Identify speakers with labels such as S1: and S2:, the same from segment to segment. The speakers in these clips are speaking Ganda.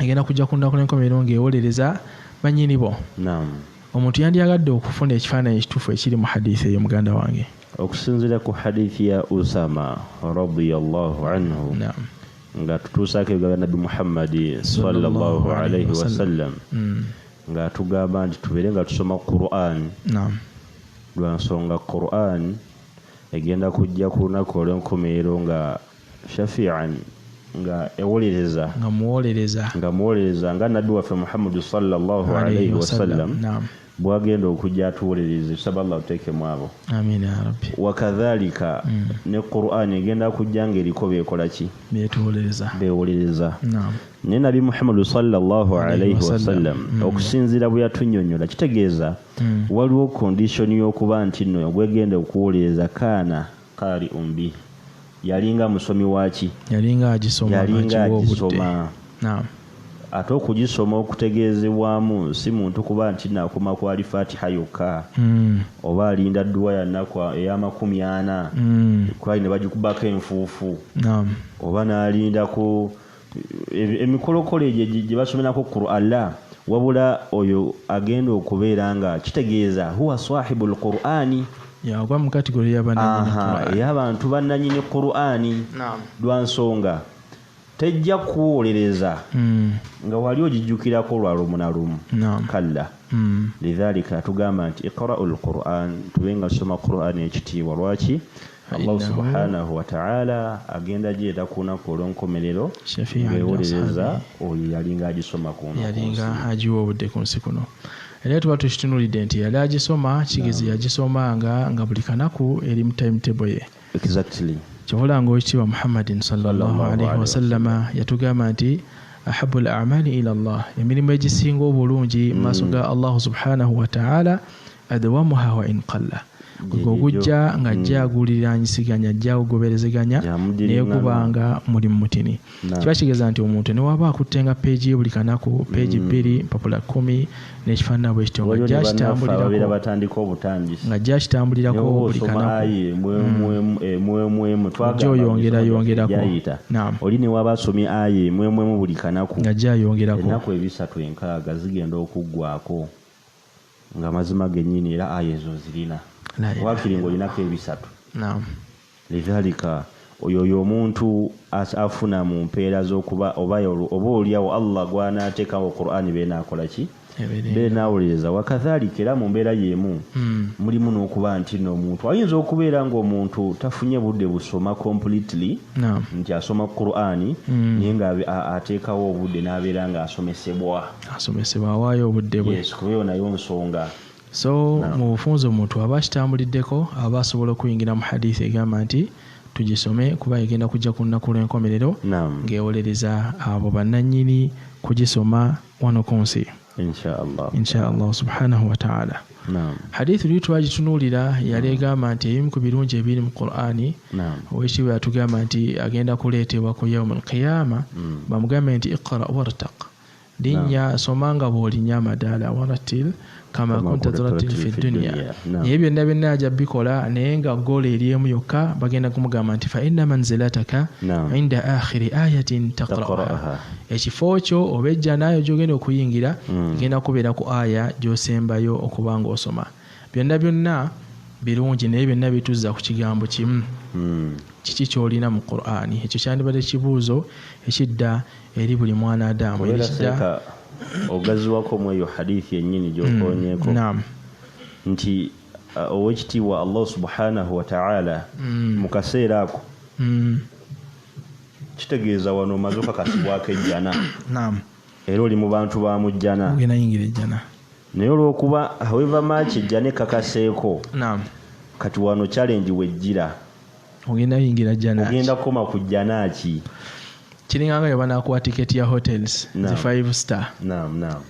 S1: egenda kujja ku nnaku n'enkomerero ng'ewolereza bannyini bo omuntu yandyagadde okufuna ekifaananyi ekituufu ekiri mu hadithi eyo muganda wange okusinziira ku
S2: hadithi ya usama radiallahu anhu nga tutuusaako ebigabo bya nabbi muhammadi sallallahu alaihi wasallam mm. nga tugamba nti tubeere nga tusoma quran lwa nsonga quran egenda kujja ku lunaku olw'enkomerero nga shafian nga ewolereza nga muwolereza nga muwolereza nga nabbi waffe muhammadu sallallahu alaihi wasallam bwagenda okujja atuwolereze tusaba allah tuteeke mwabo
S1: wakadhalika mm.
S2: ne quran egenda kujja nga eriko bekolaki bewolereza ne nabi muhammadu sallallahu alaihi wasallam mm. okusinzira bwe yatunyonyola kitegeeza mm. waliwo kondishoni y'okuba nti no gwegenda okuwolereza kaana Qari un bi yalinga musomi waki yalinga agisoma
S1: yalinga agisoma
S2: ate okugisoma okutegeezebwamu si muntu kuba nti nakoma kwali fatiha yokka hmm. oba alinda dduwa yanaku eyamakumi ana hmm. kwali ne bagikubako enfuufu oba n'alindako emikolokolo egyo gye basomerako qur'anla wabula oyo agenda okubeera nga kitegeeza huwa sahibu lqur'ani yagwa mu
S1: katigolo ey'abantu
S2: bannanyini qur'ani lwa nsonga tejja kuwolereza hmm. nga wali ogijjukirako lwa lumu na lumu kalla hmm. lidhalika atugamba nti iqra'u lquran tube nga tusoma qur'ani ekitiibwa lwaki Allah subhanahu wa ta'ala agenda jeeta ku lunaku olw'enkomerero ng'ewolereza oyo yalinga agisoma ku yalinga agiwa
S1: obudde ku nsi kuno era tuba tukitunulidde nti yali agisoma kigezi yagisoma nga nga buli kanaku eri mu timetable ye exactly
S2: kyobola nga owekitiibwa
S1: muhammadin sallallahu alaihi wasallama yatugamba nti ahabu l amali ila llah emirimu egisinga obulungi mu maaso mm. ga allahu subhanahu wataala adawamuha wa in qalla gwe ogujja nga ajja hmm. aguliraanyisiganya ajja agugoberezeganya naye guba nga muli mu mutini kiba kigeza nti omuntu newaba akuttenga peegi ye buli kanaku peegi hmm. bbiri mpapula kumi nekifaanana bwe kityo ngajja kitambulirako buli kanakuojja hmm. oyongerayongerako
S2: oli newaba asomye aye mwemwemu buli kanaku ngajja ayongerako
S1: enaku ebisatu
S2: enkaaga zigenda okuggwako Nga mazima genyini era aya ezo nzirina wakiri nga olinako ebisatu lidhalika oyo oyo omuntu afuna mu mpeera z'okuba oba olyawo Allah gw'anaateekawo Qur'ani beena akola ki beena awuliriza wakadhalika era mu mbeera y'emu hmm. mulimu n'okuba nti no omuntu ayinza okubeera ng'omuntu tafunye budde busoma completely nti asoma Qur'ani hmm. naye nga ateekawo obudde n'abeera ng'asomesebwa asomesebwa awaayo
S1: obudde bwe yes, kuba eyo nayo nsonga
S2: so no.
S1: mu bufunza omuntu aba akitambuliddeko aba asobola okuyingira mu hadisi egamba nti tugisome kuba egenda kujja ku lunaku lw'enkomerero ng'ewolereza abo bannannyini kugisoma wano ku nsi inshaallahu subhanahu wataala hadithu luli twagitunuulira yali egamba nti ebimu ku birungi ebiri mu qurani owekitiibwa yatugamba nti agenda kuleetebwa ku yauma alqiyama mm. bamugambe nti iqra wartak Linnya soma nga bw'olinya amadaala warattil kama kunta turattil fi dunya naye byonna byonna aja bikola naye nga goolo eri emu yokka bagenda kumugamba nti fa inna manzilataka inda akhiri ayatin taqra'aha ekifo kyo oba ejjana ayo gy'ogenda okuyingira mm. egenda kubeera ku aya gy'osembayo okuba ng'osoma Byonna byonna birungi naye byonna bituzza ku kigambo kimu hmm. kiki kyolina mu qurani ekyo kyandibadde kibuuzo ekidda eri buli mwana adamu
S2: ogaziwako mweyo hadithi yenyini gyokonyeko hmm. nti uh, owekitiibwa allah subhanahu wataala hmm. mu kaseera ako kitegeeza wano omaze okakasibwako ejjana era oli mu bantu ba mu jjana naye olwokuba however much ejja nekakaseeko naam kati wano challenge wejjira ogenda
S1: yingira jana ogenda koma ku jana
S2: ki
S1: kiringa nga yobanakuwa ticket ya hotels zi five star naam naam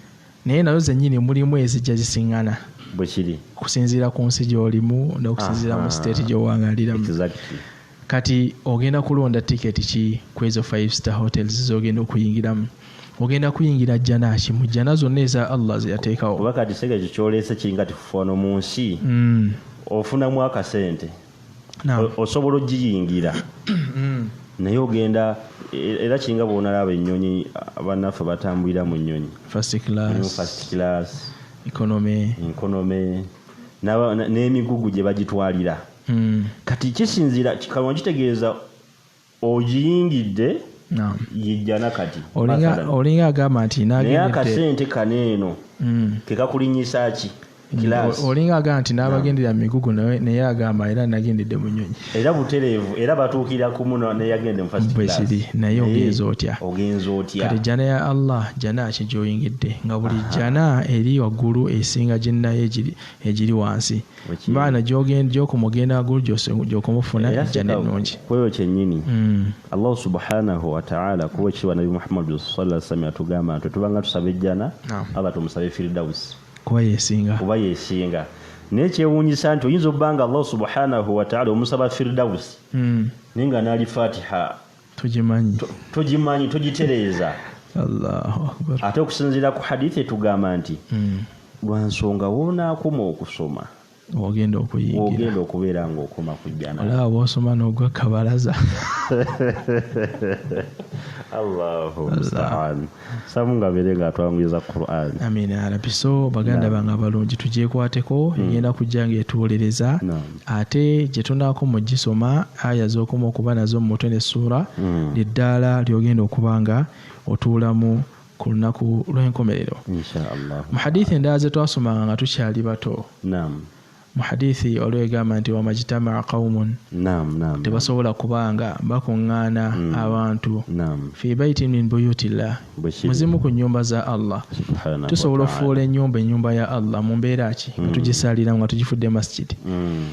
S1: naye nazo zenyini mulimu ezijja zisingana bwekiri
S2: kusinziira ku nsi
S1: gyolimu nokusinziira mu state gyowangaliramu exactly. Kati ogenda kulonda ticket ki kwezo five star hotels zogenda okuyingiramu? Ogenda kuyingira jana ki mu jana zonna eza Allah zeyatekawo? Kuba kati sega ekyo kyoleese
S2: kiringa tikufa wano mu nsi mm. ofunamu akasente no. osobola ojiyingira mm. naye ogenda e, era kiringa bwonalaba ennyonyi banaffe batambulira mu nnyonyi first class,
S1: first class economy, economy
S2: n'emigugu gye bagitwalira mm. kati kisinzira kikaba kitegeeza ogiyingidde no. yejjana kati olinga
S1: agamba nti naye akasente
S2: kano eno mm. kekakulinyisa ki olinga
S1: agamba nti n'abagendera mu migugu naye agamba era nagendedde mu nyonyi era butereevu
S2: era batuukira kumu neyagende mufasbwekiri naye ogenza
S1: otya ogenza otya kati jjana ya allah jjana ki gyoyingidde nga buli jjana eri waggulu esinga gyennayo egiri wansi baana gyokoma ogenda agulu gyokoma ofuna ejjana ennungi kweyo kyennyini
S2: mm. allahu subhanahu wataala kuba ekiwa nabi muhammadu sala sallam yatugamba nti tubanga tusaba ejjana aba tumusabe firidausi kuba yesinga
S1: kuba yesinga
S2: naye kyewunyisa nti oyinza obanga allahu subhanahu wataala omusaba firidausi mm. naye nga naali fatiha tugimanyi tugimanyi tugitereeza
S1: ate okusinziira ku
S2: hadith etugamba nti hmm. lwansonga wonaakoma okusoma ogenda
S1: okuyigiraogenda okubeera
S2: ngaokoma ku jjana olaba bwosoma nogwa
S1: kabalaza
S2: allahu mustaan samu nga abeere nga atwanguyiza quran amiina yarabi so
S1: baganda bange abalungi tugyekwateko hmm. egenda kujja nga etuwolereza ate gye tunaako mu gisoma aya z'okoma okuba nazo mu mutwe n'essuula hmm. lyeddaala lyogenda okuba nga otuulamu ku lunaku lw'enkomerero mu
S2: hadithi endala ze
S1: twasomanga nga tukyali bato Mu hadiithi waliwo egamba nti wamajitamaa qaumun Naam, naam. tebasobola kuba nga bakuŋŋaana Mm. abantu Naam. fi baitin min buyutillah Bwe kiri. mu zimu ku nnyumba za Allah Subhaanahu tusobola wa ta'ala. okufuula ennyumba ennyumba ya Allah mu mbeera ki nga Mm. tugisaaliramu nga tugifudde masjidi Mm.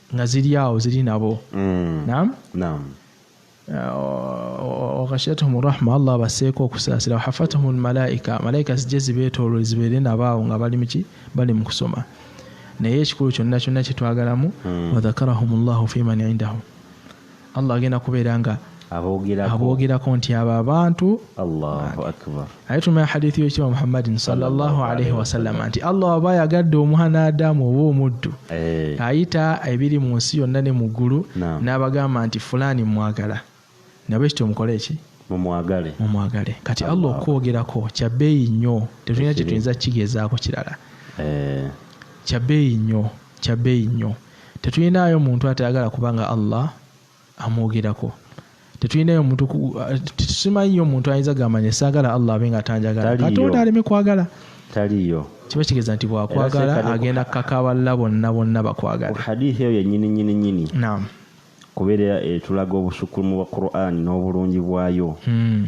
S1: nga ziri awo ziri nabo mm. nam nam waghashiyatuhum uh, rahma allah abaseeko okusaasira wahafatuhum lmalaika malaika zijje zibeetoolole zibeere nabaawo nga bali muki bali mu kusoma naye ekikulu kyonna kyonna kyetwagalamu hmm. wadhakarahum llahu fiman indahu Allah agenda kubeera nga aboogerako nti abo abantu
S2: aye tumanya hadithu
S1: yekitiibwa muhammadin salllahalaihi wasallama nti allah aba ayagadde omwana adamu oba omuddu eh. ayita ebiri mu nsi yonna ne mu ggulu n'abagamba nti fulaani mwagala nabwe kityo mukole eki mumwagale mumwagale kati allah okwogerako kya bbeeyi nnyo tetulina kye tuyinza kigezaako kirala eh. kya bbeeyi nnyo kya bbeeyi nnyo tetulinaayo muntu atayagala kuba nga allah amwogerako tetulinayo muntu tetusimanyiyo omuntu ayinza gamanya saagala allah abe nga atanjagala katonda aleme kwagala taliyo
S2: kiba kitegeeza nti
S1: bwakwagala agenda kukakaballa bonna bonna bakwagala hadithi eyo yenyini
S2: nyini nyini kubeera etulaga eh, obusukkulumu bwa qurani n'obulungi bwayo hmm.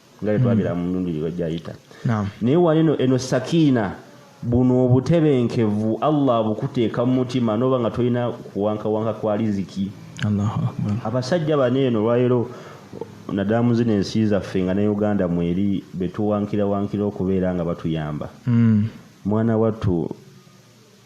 S2: nga bwetwabira mu mirundi gyayita naye walino eno sakiina buno obutebenkevu allah abukuteeka mu mutima noba nga tolina kuwankawanka kwa riziki abasajja bano
S1: eno lwaliro
S2: naddala mu zino ensi zaffe nga ne uganda mweri betuwankirawankira okubeera nga batuyamba hmm. mwana wattu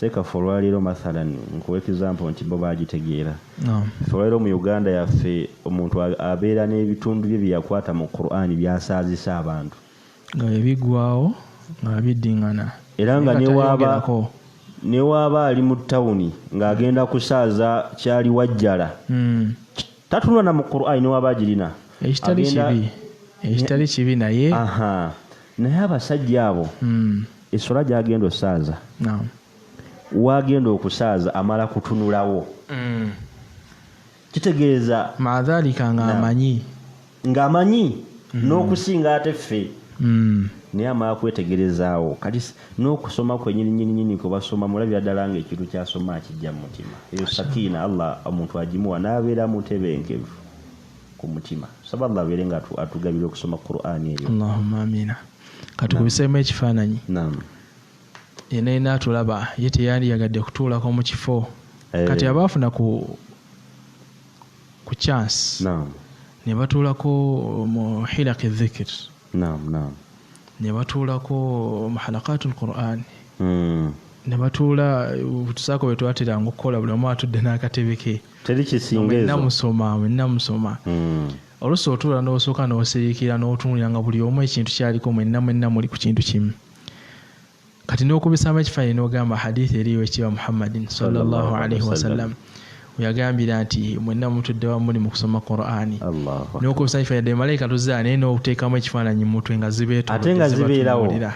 S2: Sekafa olwaleero mathalan nkuwa example nti bo bagitegeera fe olwaleero mu Uganda yaffe omuntu abeera n'ebitundu bye byeyakwata mu Quran byasaazisa abantu nga
S1: bibigwawo nga biddingana era nga newaaba
S2: newaaba ali mu tawuni ng'agenda kusaaza kyali wajjala hmm. tatunula na mu Quran newaaba agirina ekitali
S1: kibi naye naye
S2: abasajja abo hmm. eswala gyagenda osaaza wagenda okusaaza amala kutunulawo mm. kitegeeza madhalika ngaamanyi
S1: ngaamanyi mm. n'okusinga
S2: ate ffe mm. naye amala kwetegerezaawo kati n'okusoma kwenyininyininyini kwebasoma mulabira ddala nga ekintu kyasoma akijja mu mutima eyo sakiina allah omuntu agimuwa n'abeera mutebenkevu ku mutima saba allah abeere nga atugabira okusoma qur'ani eyo
S1: katukubiseemu ekifaananyi yena yena atulaba ye teyandiyagadde kutuulako mu kifo eh. kati aba afuna ku ku chance ne batuulako mu hilaki dhikir ne batuulako mu halakatu lqurani hmm. ne batuula tusaako bwe twateranga okukola buli omu atudde n'akatebe ke teri kisinga ezo
S2: namusoma
S1: namusoma hmm. Oluusi otuula n'osooka n'osiriikirira n'otunuulira nga buli omu ekintu ky'aliko mwenna mwenna muli ku kintu kimu. Kati n'okubisaamu ekifaananyi n'ogamba hadiithi eriyo ekiba Muhammadin sallallahu alaihi wasallam weyagambira nti mwenna mutudde wamu muli mu kusoma Qur'ani. N'okubisaamu ekifaananyi ddala malayika tuzze naye n'oteekamu ekifaananyi mu mutwe nga zibeetodde zibatunuulira.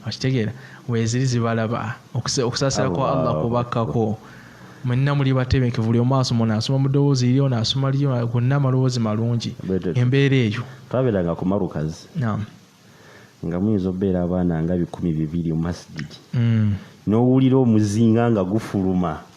S1: okitegeera weziri zibalaba okusaasira kwa allah kubakkako mwenna muli batebenkevu buli omu asoma ono asoma mu ddoboozi iri ono asoma liyo gonna amaloboozi malungi embeera eyo twabeeranga ku marukazi
S2: nga muyinza obeera abaana nga bikumi bibiri mu masigidi mm. n'owulira omuzinga nga gufuluma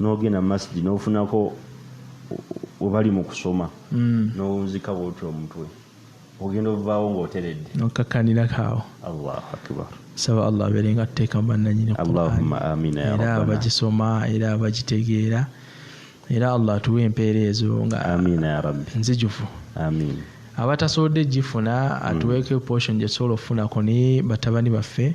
S2: nogenda masjid nofunako webali mu kusoma mm. nowunzika bwoti omutwe ogenda ovaawo ngaoteredde nokakanirako awo
S1: allahu akbar
S2: saba allah abeere
S1: nga tuteeka mubannanyini
S2: era abagisoma
S1: era abagitegeera era allah atuwe empeera ezo nga
S2: nzijufu abatasobodde
S1: gifuna atuweeko mm. portion gyetusobola okufunako ne batabani baffe